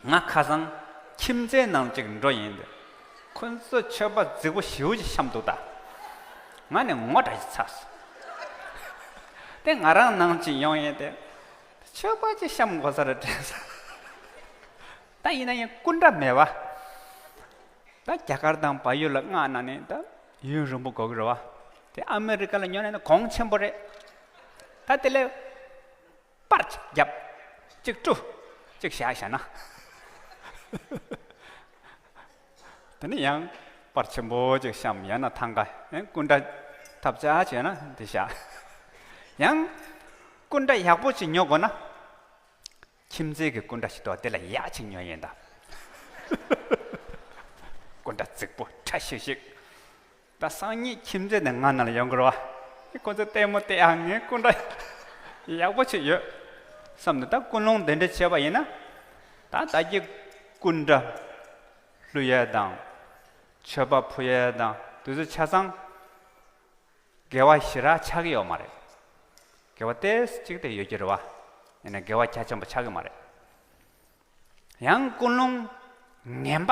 ང་ཁ་སང་ཁྱིམ་མཚེས་ནང་གཅིག་འགྲོ་ཡིན་འདུག་ཁོ་ཚོས་མཆོད་པ་རྫིག་པོ་ཞེའུ་ཅིག་བཤམས་འདུག་ད་ང་ནི་ངོ་དགྲ་ཞིག་ཚར་སོང། དེ་ང་རང་ནང་གཅིག་ཡོང་ཡིན་ཏེ་མཆོད་པ་ཅིག་བཤམས་དགོ་ས་རེད་དྲན་སོང། ད་ཡིན་ན་ཡིན་སྐུ་འདྲ་མེད་པ། ད་རྒྱ་གར་དང་བལ་ཡུལ་ལ་མངགས་ན་ནི་ད་ཡུན་རིང་པོ་འགོར་གི་རེད་བ། དེ་ཨ་མི་རི་ཀ་ལ་ཉོ་ན་ནི་གོང་ཆེན་པོ་རེད། ད་དེ་ལས་པར་གཅིག་བརྒྱབ། གཅིག་བཀྲུ། གཅིག་བྱ་བྱས་ན། དེ་ནས་ཡང་པར་ཆེན་པོ་གཅིག་བཤམས་ཡང་ན་ཐང་ཀ་ཡང་སྐུ་འདྲ་ཐབ་བྱ་བྱས་ན་དེ་བྱ། ཡང་སྐུ་འདྲ་ཡག་པོ་ཅིག་ཉོ་དགོས་ན། ཁྱིམ་མཚེས་ཀྱི་སྐུ་འདྲ་ཞིག་འདུག་དེ་ལ་ཡག་ཅིག་ཉོ་ཡིན་ད། སྐུ་འདྲ་རྫིག་པོ་ཁྲ་ཤིག་ཤིག། ད་སང་ཉིན་ཁྱིམ་མཚེས་ནས་ང་ནང་ཡོང་དགོས་བ། ཁོ་ཚོས་ལྟད་མོ་བལྟས་ཨ་ངའི་སྐུ་འདྲ་ཡག་པོ་ཆེ་ཡོད་བསམ་ནས་ད་ཀུན་སློང་དེ་འདྲ་བྱས་པ་ཡིན་ན། ད་ད་ཀྱི་སྐུ་འདྲ་ཀླུ་ཡས་དང། ཆོས་པ་བུ་ཡས་དང་དུས་ཚོད་ཆ་ཚང་དགེ་བ་ཞི་རགས་ཆགས་ཀྱི་ཡོད་མ་རེད། དགེ་བ་ཏེ་གཅིག་དེ་ཡོད་ཀྱི་རེད་བ། ཡིན་ན་དགེ་བ་གལ་ཆེན་པོ་ཆགས་ཀྱི་མ་རེད། ཡང་ཀུན་སློང་ངན་པ།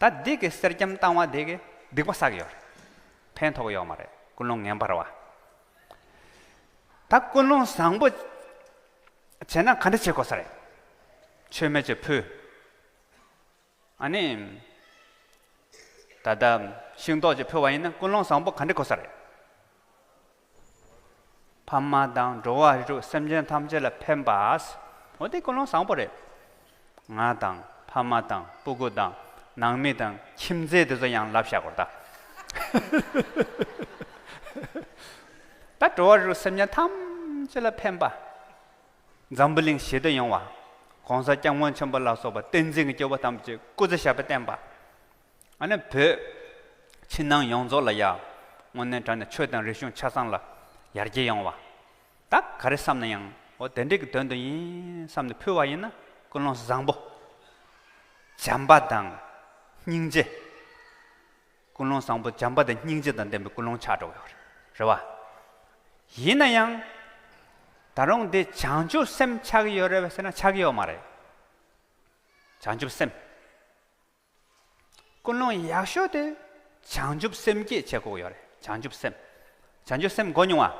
ད་སྡིག་གི་གསེར་སྐྱེམས་བཏང་བ་དེ་གིས་སྡིག་པ་བསགས་ཡོད་རེད། ཕན་ཐོགས་ཡོད་མ་རེད་ཀུན་སློང་ངན་པར་བ། ད་ཀུན་སློང་བཟང་པོ་བྱས་ན་ག་འདྲ་བྱེད་དགོས་ས་རེད། ཆོས་མེད་ཀྱི་བུ། ཨ་ནི། ད་ལྟ་ཤིང་ཏོག་ཅིག་ཕུལ་བ་ཡིན་ན་ཀུན་སློང་བཟང་པོ་ག་འདྲ་དགོས་ས་རེད། ཕ་མ་དང་འགྲོ་བ་རིགས་དྲུག་སེམས་ཅན་ཐམས་ཅད་ལ་ཕན་པ། འོ་དེ་ཀུན་སློང་བཟང་པོ་རེད། ང་དང་ཕ་མ་དང་སྤུ་གུ་དང་ནང་མི་དང་ཁྱིམ་མཚེས་དེ་ཚོ་ཡང་ལབ་བཞག་གོ་ད། ད་འགྲོ་བ་རིགས་དྲུག་སེམས་ཅན་ཐམས་ཅད་ལ་ཕན་པ། འཛམ་བུ་གླིང་ཞི་བདེ་ཡོང་བ། གོང་ས་སྐྱབས་མགོན་ཆེན་པོ་ལ་སོགས་པ་བསྟན་འཛིན་གྱི་སྐྱེ་བོ་ཐམས་ཅད་སྐུ་ཚེ་ཞབས་པད་བརྟན་པ། ཨ་ནི་བོད། ཕྱི་ནང་ཡོངས་རྫོགས་ལ་ཡ། སྔོན་གནས་དགྲ་ནས་ཆོས་དང་རིག་གཞུང་ཆ་ཚང་ལ། ཡར་རྒྱས་ཡོང་བ། ད་ག་རེ་བསམ་ན་ཡང། འོ་དེ་འདྲས་ཀྱི་དོན་དུ་ཡིན། བསམ་ནས་ཕུལ་བ་ཡིན་ན། ཀུན་སློང་བཟང་པོ། བྱམས་པ་དང། སྙིང་རྗེ། ཀུན་སློང་བཟང་པོ་བྱམས་པ་དང་སྙིང་རྗེ་དང་ལྡན་པའི་ཀུན་སློང་ཆགས་འགྲོ་གི་ཡོད་རེད། རེད་བ། ཡིན་ན་ཡང། ད་རུང་འདི་བྱང་ཆུབ་སེམས་ཆགས་ཀྱི་ཡོད་རེད་བ་ཟེར་ན་ཆགས་ཀྱི་ཡོད་མ་རེད། བྱང་ཆུབ་སེམས། ཀུན་སློང་ཡག་ཤོས་དེ་བྱང་ཆུབ་སེམས་སྐྱེད་བྱེད་དགོས་ཡོད་རེད་བྱང་ཆུབ་སེམས། བྱང་ཆུབ་སེམས་འགོ་མྱོང་བ།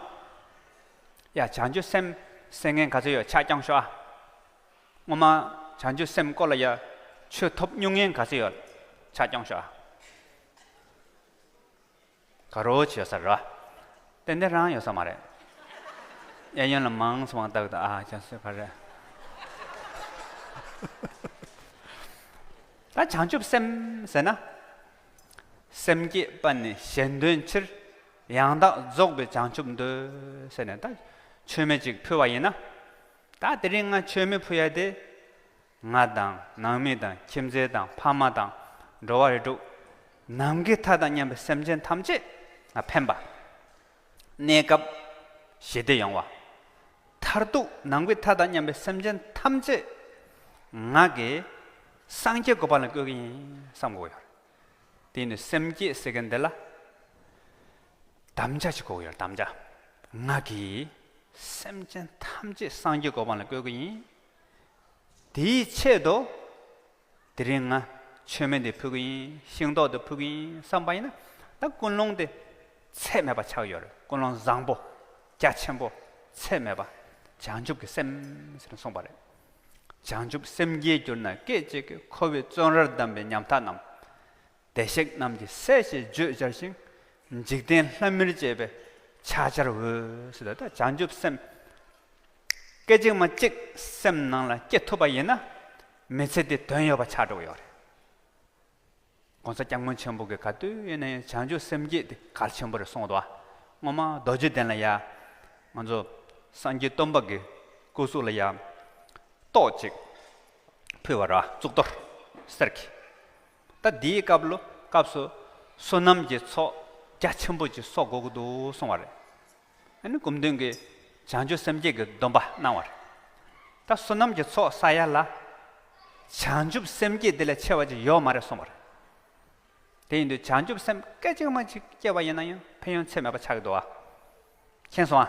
ཡ་བྱང་ཆུབ་སེམས་སེམས་ངན་ག་ཚོད་ཡོད་ཕྱག་བརྐྱངས་ཤོག་ཨ། སྔོན་མ་བྱང་ཆུབ་སེམས་སྐོར་ལ་ཡ་ཆོས་ཐོབ་སྨྱུང་ངན་ག་ཚོད་ཡོད་ཕྱག་བརྐྱངས་ཤོག་ཨ། ག་རོ་བྱེད་ས་ར། ཏན་ཏན་རང་ཡོད་ས་མ་རེད། གཡས་གཡོན་ལ་མང་སོང་བརྟག་ད་ཨ་ཅག་སོས་ག་རེད། ད་བྱང་ཆུབ་སེམས་ཟེར་ན། སེམས་བསྐྱེད་པ་ནི་གཞན་དོན་ཕྱིར། ཡང་དག་རྫོགས་པའི་བྱང་ཆུབ་འདོད། ཟེར་ནས་ད་ཆོས་མེད་ཅིག་ཕུལ་བ་ཡིན་ན། ད་དེ་རིང་ང་ཆོས་མི་ཕུལ་ཡ་དེ། ང་དང་ནང་མི་དང་ཁྱིམ་མཚེས་དང་ཕ་མ་དང་འགྲོ་བ་རིགས་དྲུག། ནམ་མཁའི་མཐའ་དང་མཉམ་པའི་སེམས་ཅན་ཐམས་ཅད་ལ་ཕན་པ། གནས་སྐབས་ཞི་བདེ་ཡོང་བ། མཐར་ཐུག་ནང་པའི་མཐའ་དང་མཉམ་པའི་སེམས་ཅན་ཐམས་ཅད་ང་གིས་སངས་རྒྱས་དགོས་པ་ལ་བསྐོས་ཀྱི་ཡིན་བསམ་དགོས་ཡོད། དེ་ནི་སེམས་བསྐྱེད་ཟེར་མཁན་འདི་ལ་དམ་བཅའ་བྱེད་དགོས་ཡོད་དམ་བཅའ། ང་གིས་སེམས་ཅན་ཐམས་ཅད་སངས་རྒྱས་དགོས་པ་ལ་བསྐོས་ཀྱི་ཡིན། དེའི་ཆེད་དུ། དེ་རིང་ང་མཆོད་མེ་འདི་ཕུལ་གྱི་ཡིན། ཤིང་ཏོག་འདི་ཕུལ་གྱི་ཡིན་བསམ་པ་ཡིན་ན། ད་ཀུན་སློང་དེ་ཚད་མེད་པ་ཆགས་ཡོད་རེད། ཀུན་སློང་བཟང་པོ། རྒྱ་ཆེན་པོ། ཚད་མེད་པ། བྱང་ཆུབ་ཀྱི་སེམས་ཟེར་ནས་གསུངས་པ་རེད། བྱང་ཆུབ་སེམས་སྐྱེས་གྱུར་ན་སྐད་ཅིག་གིས་ཁོ་བོའི་བརྩོན་རར་བསྡམས་པའི་ཉམ་ཐག་རྣམས། བདེ་གཤེགས་རྣམས་ཀྱི་སྲས་ཞེས་བརྗོད་སྦྱར་ཞིང། འཇིག་རྟེན་ལྷ་མིར་བཅས་པའི་ཕྱག་ཆར་འོས། བྱང་ཆུབ་སེམས་སྐད་ཅིག་མ་གཅིག་སེམས་ནང་ལ་སྐྱེ་ཐུབ་པ་ཡིན་ན། མི་ཚེ་འདི་དོན་ཡོད་པ་ཆགས་འགྲོ་གི་ཡོད་རེད། ྋགོང་ས ྋསྐྱབས་མགོན་ཆེན་པོ་གིས་ག་དུས་ཡིན་ན་ཡང་བྱང་ཆུབ་སེམས་བསྐྱེད་དེ་གལ་ཆེན་པོ་རེད་གསུངས་འདུག་སྔོན་མ་རྡོ་རྗེ་གདན་ལ་ཡ། ང་ཚོ་སངས་རྒྱས་སྟོན་པ་གི་སྐུ་གཟུགས་ལ་ཡ། ཏོག་ཅིག་ཕུལ་བར་གཙུག་ཏོར་གསེར་གྱི་ད་འདིའི་སྐབས་ལོ་སྐབས་སུ་བསོད་ནམས་ཀྱི་ཚོགས་རྒྱ་ཆེན་པོ་ཅིག་གསོག་འགོ་དགོས་འདུག་གསུངས་བ་རེད། ཨ་ནི་གུམ་སྟོན་གྱི་བྱང་ཆུབ་སེམས་བསྐྱེད་ཀྱི་སྡོམ་པ་གནང་བ་རེད། ད་བསོད་ནམས་ཀྱི་ཚོགས་བསགས་ཡ་ལ། བྱང་ཆུབ་སེམས་བསྐྱེད་དེ་ལས་ཆེ་བ་ཅིག་ཡོད་མ་རེད་གསུངས་བ་རེད། དེ་ཡིན་དུས་བྱང་ཆུབ་སེམས་སྐད་ཅིག་མ་ཅིག་སྐྱེས་པ་ཡིན་ན་ཡང་ཕན་ཡོན་ཚད་མེད་པ་ཆགས་ཀྱི་འདུག་ཨ། མཁྱེན་སོང་ཨ།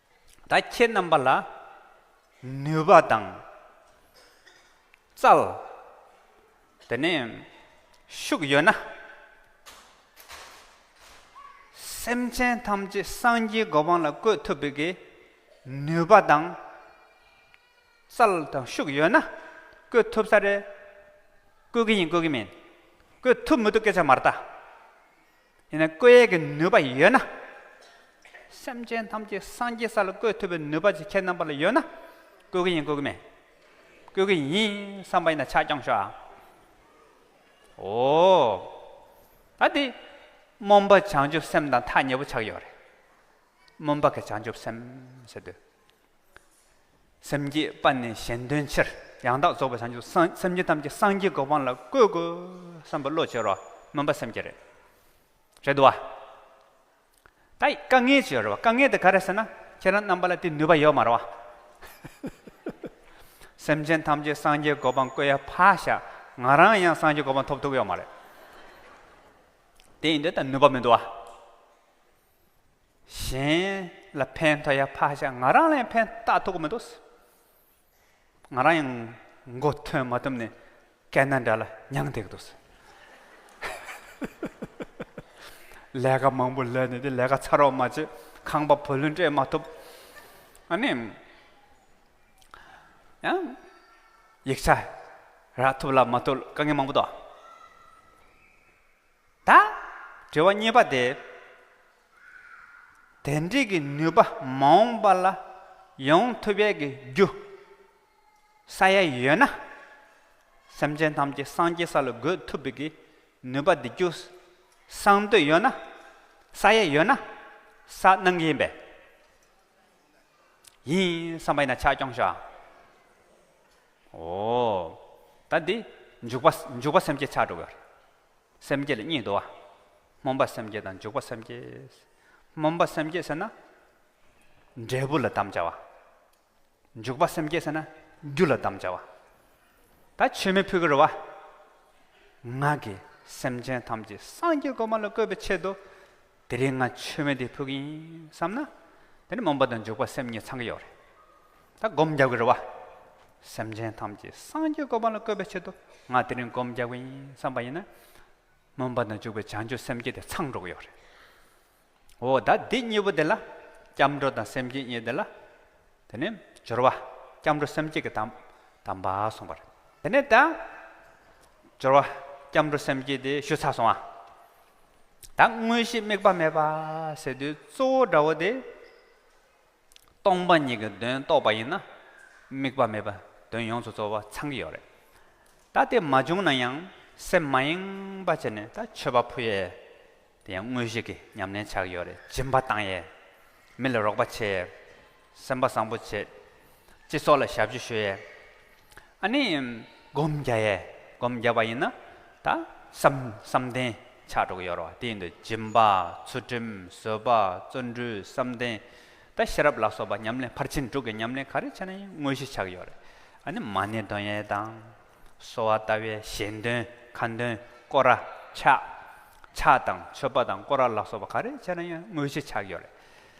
ད་ཁྱེད་རྣམ་པ་ལ་ནུས་པ་དང་རྩལ། དེ་ནས་ཤུགས་ཡོད་ན། སེམས་ཅན་ཐམས་ཅད་སངས་རྒྱས་གོ་འཕང་ལ་བཀོད་ཐུབ་པའི་གི་ནུས་པ་དང་རྩལ་དང་ཤུགས་ཡོད་ན་བཀོད་ཐུབ་ས་རེད། བཀོད་གི་ཡིན་བཀོད་གི་མིན། བཀོད་ཐུབ་མི་ཐུབ་སྐད་ཆ་མ་རྟ། ཡིན་ན་བཀོད་ཡས་ཀྱི་ནུས་པ་ཡོད་ན། སེམས་ཅན་ཐམས་ཅད་སངས་རྒྱས་ས་ལ་བཀོད་ཐུབ་པའི་ནུས་པ་ཅིག་ཁྱེད་རྣམ་པ་ལ་ཡོད་ན། བཀོད་ཀྱི་ཡིན་བཀོད་ཀྱི་མེད། བཀོད་ཀྱི་ཡིན་བསམ་པ་ཡིན་ན་ཕྱག་བརྐྱང་ཤོག་ཨ། འོ། ད་དེ། སྨོན་པ་བྱང་ཆུབ་སེམས་དང་ཐག་ཉེ་པོ་ཆགས་ཡོད་རེད། སྨོན་པ་གི་བྱང་ཆུབ་སེམས་ཟེར་དུས། སེམས་བསྐྱེད་པ་ནི་གཞན་དོན་ཕྱིར་ཡང་དག་རྫོགས་པའི་བྱང་ཆུབ་སེམས་སེམས་བསྐྱེད་ཐམས་ཅད་སངས་རྒྱས་གོ་འཕང་ལ་བཀོད་དགོས་བསམ་པ་བློ་བྱེ་རོ་སྨོན་པ་སེམས་བསྐྱེད་རེད། རེད་དོ། ད་ཡིས་དཀའ་ངལ་ཅི་ཡོད་རེད་བ་དཀའ་ངལ་དེ་ག་རེད་ཟེར་ན་ཁྱེད་རང་རྣམ་པ་ལ་དེ་ནུས་པ་ཡོད་མ་རེད་བ། སེམས་ཅན་ཐམས་ཅད་སངས་རྒྱས་གོ་འཕང་བཀོད་ཡ་ཕ་ཤ་ང་རང་ཡང་སངས་རྒྱས་གོ་འཕང་ཐོབ་ཐུབ་ཡོད་མ་རེད། དེ་ཡིན་དུས་ད་ནུས་པ་མི་འདུག་བ། གཞན་ལ་ཕན་ཐོགས་ཡ་ཕ་ཞག་ང་རང་ལ་ཡང་ཕན་ལྟ་ཐོགས་མི་འདུག། ང་རང་ཡང་མགོ་ཐོན་མ་ཐུབ་ནས་སྐད་སྣ་འདྲ་ལ་མྱང་བསྡད་ཀྱི་འདུག། ལས་ཀ་མང་པོ་ལས་ནས་དེ་ལས་ཀ་ཚར་རོགས་མ་བྱེད་ཁང་པ་བུ་ལོན་སྤྲད་མ་ཐུབ། ཨ་ནི་ཡང་ཡིག་ཆ་རག་ཐུབ་ལ་མ་ཐུབ་དཀའ་ངལ་མང་པོ་འདུག། དང། དྲི་བ་གཉིས་པ་སྟེ། དེ་འབྲེལ་གྱི་ནུས་པ་མ་འོངས་པ་ལ་ཡོང་ཐུབ་ཡས་ཀྱི་རྒྱུ་ས་ཡ་ཡོད་ན། སེམས་ཅན་ཐམས་ཅད་སངས་རྒྱས་ས་ལ་འགོད་ཐུབ་པའི་ཀྱི་ནུས་པ་འདི་རྒྱུ་སངས་འདོད་ཡོད་ན། ས་ཡ་ཡོད་ན། ས་སྣང་ཡིན་པས། ཡིན་བསམ་པ་ཡིན་ན་ཆ་སྐྱོང་ཤོག་ཨང། འོ། ད་འདི། འཇུག་པ་འཇུག་པ་སེམས་བསྐྱེད་ཆགས་འགྲོ་བའི། སེམས་བསྐྱེད་ལ་གཉིས་འདུ་བ། སྨོན་པ་སེམས་བསྐྱེད་དང་འཇུག་པ་སེམས་བསྐྱེད། སྨོན་པ་སེམས་བསྐྱེད་ཟེར་ན། འབྲས་བུ་ལ་དམ་བཅའ་བ། འཇུག་པ་སེམས་བསྐྱེད་ཟེར་ན། རྒྱུ་ལ་དམ་བཅའ་བ། ད་ཆོས་མི་ཕུད་ཀྱི་རེད་བ། ངག་གིས་སེམས་ཅན་ཐམས་ཅད་སངས་རྒྱས་གོ་མ་ལ་བཀོད་པའི་ཆེད་དུ། དེ་རིང་ང་ཆོས་མེད་དེ་ཕུགས་ཡིན་བསམ་ན། དེ་ནི་མུན་པ་དང་འཇུག་པ་སེམས་གཉིས་ཚང་གི་ཡོད་རེད། ད་སྒོམ་རྒྱག་གི་རེད་བ། སེམས་ཅན་ཐམས་ཅད་སངས་རྒྱས་བཀོད་པ་ལ་བཀོད་པའི་ཆེད་དུ་ང་དེ་རིང་སྒོམ་རྒྱག་གི་ཡིན་བསམ་པ་ཡིན་ན། མུན་པ་དང་འཇུག་པའི་བྱང་ཆུབ་སེམས་བསྐྱེད་དེ་ཚང་འགྲོ་གི་ཡོད་རེད། འོ་ད་འདི་གཉིས་པོ་དེ་ལ། སྐྱབས་འགྲོ་དང་སེམས་བསྐྱེད་གཉིས་དེ་ལ། དེ་ནི་སྦྱོར་བ། སྐྱབས་འགྲོ་སེམས་བསྐྱེད་ཀྱི་དམ། དམ་པ་སོང་བ་རེད། དེ་ནས་ད། སྦྱོར་བ། སྐྱབས་འགྲོ་སེམས་བསྐྱེད་དེ་ཞུ་ཚར་སོང་བ། ད་དངོས་གཞི་དམིགས་པ་མེད་པ་ཟེར་དུས་གཙོ་བོ་དགྲ་བོ་དེ་སྟོང་པ་ཉིད་ཀྱི་དོན་རྟོགས་པ་ཡིན་ན་དམིགས་པ་མེད་པ་དོན་ཡོངས་སུ་རྫོགས་པ་ཚང་གི་ཡོད་རེད། ད་དེ་མ་བྱུང་ན་ཡང་སེམས་མ་ཡེངས་པ་བྱས་ནས་ད་ཆོས་པ་ཕོ་ཡས་དེ་ཡང་དངོས་གཞི་གི་ཉམས་ལེན་ཆགས་ཀྱི་ཡོད་རེད་སྦྱིན་པ་བཏང་ཡས་མི་ལ་རོགས་པ་བྱས་ཡས། སེམས་པ་བཟང་པོ་བྱེད། ཅེས་སོགས་ལ་ཞབས་ཕྱི་ཞུ་ཡས། ཨ་ནི། སྒོམ་རྒྱ་ཡས། སྒོམ་རྒྱ་བ་ཡིན་ན། ད། བསམ། བསམ་གཏན། ཕྱག་དྲུག་ཡོད་རོ། དེ་ཡིན་དུ། སྦྱིན་པ། ཚུལ་ཁྲིམས། བཟོད་པ། བརྩོན་འགྲུས། བསམ་གཏན། ད་ཤེས་རབ་ལ་སོགས་པ་ཉམས་ལེན་ཕར་ཕྱིན་དྲུག་གི་ཉམས་ལེན་ག་རེ་བྱས་ན་ཡིན་དངོས་གཞི་ཆགས་ཡོད་རེད། ཨ་ནི། མ་ནི་འདོན་ཡས་དང། གསོལ་བ་བཏབ་ཡས་ཞལ་འདོན། ཁ་འདོན། བསྐོར་ར། ཕྱག། ཕྱག་དང་མཆོད་པ་དང་བསྐོར་ར་ལ་སོགས་པ་ག་རེ་བྱས་ན་ཡིན་དངོས་གཞི་ཆགས་ཡོད་རེད།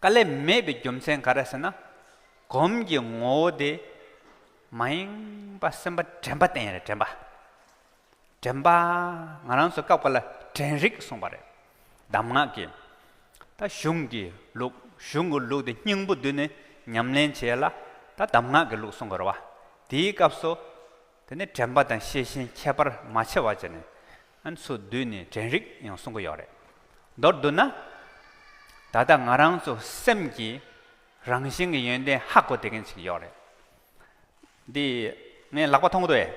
བཀའ་ལས་མེད་པའི་རྒྱུ་མཚན་ག་རེ་ཟེར་ན། གོམས་ཀྱི་ངོ་བོ་དེ་མ་ཡེངས་པ་སེམས་པ་དྲན་པ་བསྟན་ཡོད་རེད་དྲན་པ། དྲན་པ། ང་རང་ཚོ་སྐབས་འགའ་ལ་དྲན་རིག་གསུངས་པ་རེད། གདམས་ངག་གི། ད་གཞུང་གི་ལུགས་གཞུང་གི་ལུགས་དེ་སྙིང་པོ་བསྡུས་ནས་ཉམས་ལེན་བྱས་ལ་ད་གདམས་ངག་གི་ལུགས་གསུངས་དགོས་ར་བ། དེའི་སྐབས་སུ། དེ་ནི་དྲན་པ་དང་ཤེས་བཞིན་ཁྱད་པར་མ་ཕྱེ་བ་ཅན། ཚུར་བསྡུས་ནས་དྲན་རིག་ཡང་གསུང་གི་ཡོད་རེད། མདོར་བསྡུ་ན། ད་ལྟ་ང་རང་ཚོ་སེམས་ཀྱི་རང་བཞིན་གྱི་ཡོན་ཏན་ཧ་གོ་བསྡད་མཁན་ཞིག་ཡོད་རེད། འདི་ངས་ལག་པ་འཐུང་གི་འདུག་ཨེ།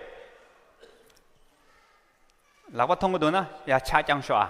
ལག་པ་འཐུང་གི་འདུག་ན་ཡར་ཕྱག་བརྐྱངས་ཤོག་ཨ།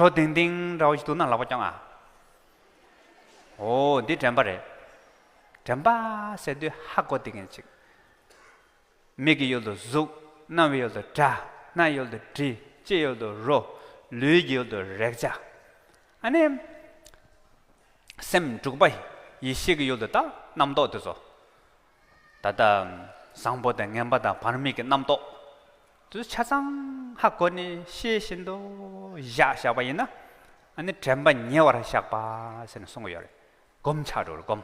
བྲོ་ལྡིང་ལྡིང་འདྲ་བོ་ཞིག་འདུག་ན་ལག་པ་བརྐྱང་ཨ། འོ་འདི་དྲན་པ་རེད། དྲན་པ་ཟེར་དུས་ཧ་གོ་དེ་གན་ཅིག། མིག་གི་ཡུལ་དུ་གཟུགས། རྣ་བའི་ཡུལ་དུ་སྒྲ། སྣའི་ཡུལ་དུ་དྲི། ལྕེའི་ཡུལ་དུ་རོ། ལུས་ཀྱི་ཡུལ་དུ་རེག་བྱ། ཨ་ནི། སེམས་འཁྲུགས་པ། ཡེ་ཤེས་ཀྱི་ཡུལ་དུ་ལྟ། རྣམ་རྟོག་དེ་ཚོ། ད་ལྟ། བཟང་པོ་དང་ངན་པ་དང་བར་དམིགས་ཀྱི་རྣམ་རྟོག། གདུལ་བྱ་ཚང་ཧ་གོ་ནས་ཤེས་བཞིན་དུ་བཞག་བཞག་པ་ཡིན་ན། ཨ་ནི་དྲན་པ་ཉེ་བར་བཞག་པ་ཟེར་ནས་གསུང་གི་ཡོད་རེད། བསྒོམ་བྱ་རུ་བསྒོམ།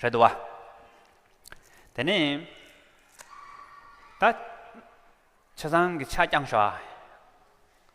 རེད་དུ་བ། དེ་ནས། ད། བྱས་ཙང་གི་ཕྱག་བརྐྱང་བྱོ།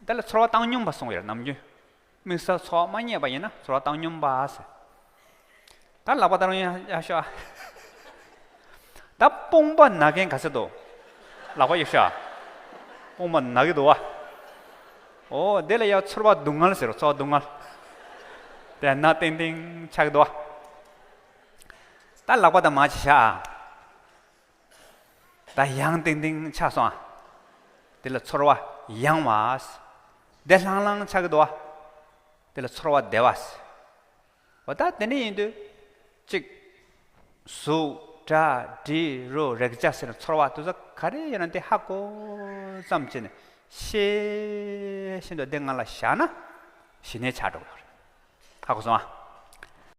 འདི་ལ་ཚོར་བ་བཏང་སྙོམས་པ་སོང་བས་ནམ་རྒྱུན། དམིགས་བསལ་ཚོར་བ་མ་རྙེད་པ་ཡིན་ན་ཚོར་བ་བཏང་སྙོམས་པ་ཟེར། ད་ལག་པ་ལྟར་ཡང་ཡག་ཤོག་ཨ། ད་དཔུང་པ་ན་གན་ག་ཟེར་དོ། ལག་པ་ཡོད་ཤོག་ཨ། དཔུང་པ་ན་གི་འདུག་ཨ། འོ་འདི་ལ་ཡང་ཚོར་བ་སྡུག་བསྔལ་ཟེར་རོ་ཚོར་བ་སྡུག་བསྔལ། དེ་ན་ཏིང་ཏིང་ཆགས་འདུག་ཨ། ད་ལག་པ་ད་མ་བྱེད་ཤག་ཨ། ད་ཡང་ཏིང་ཏིང་ཆགས་སོང་ཨ། དེ་ལ་ཚོར་བ་ཡང་བ། བདེ་ལྷང་ལྷང་ཆགས་འདུག་ཨ། དེ་ལ་ཚོར་བ་བདེ་བ། འོ་ད་དེ་འདྲ་ཡིན་དུས་གཅིག། གཟུགས་སྒྲ་དྲི་རོ་རེག་བྱ་ཟེར་ཚོར་བ་དུ་ས་ག་རེ་ཡོད་ན་དེ་ཧ་གོ་ཙམ་བྱས་ནས་ཤེས་བཞིན་དུ་དེ་ང་ལ་བཞག་ན་ཞི་གནས་ཆགས་འགྲོ་གི་རེད་ཧ་གོ་སོང་ཨ།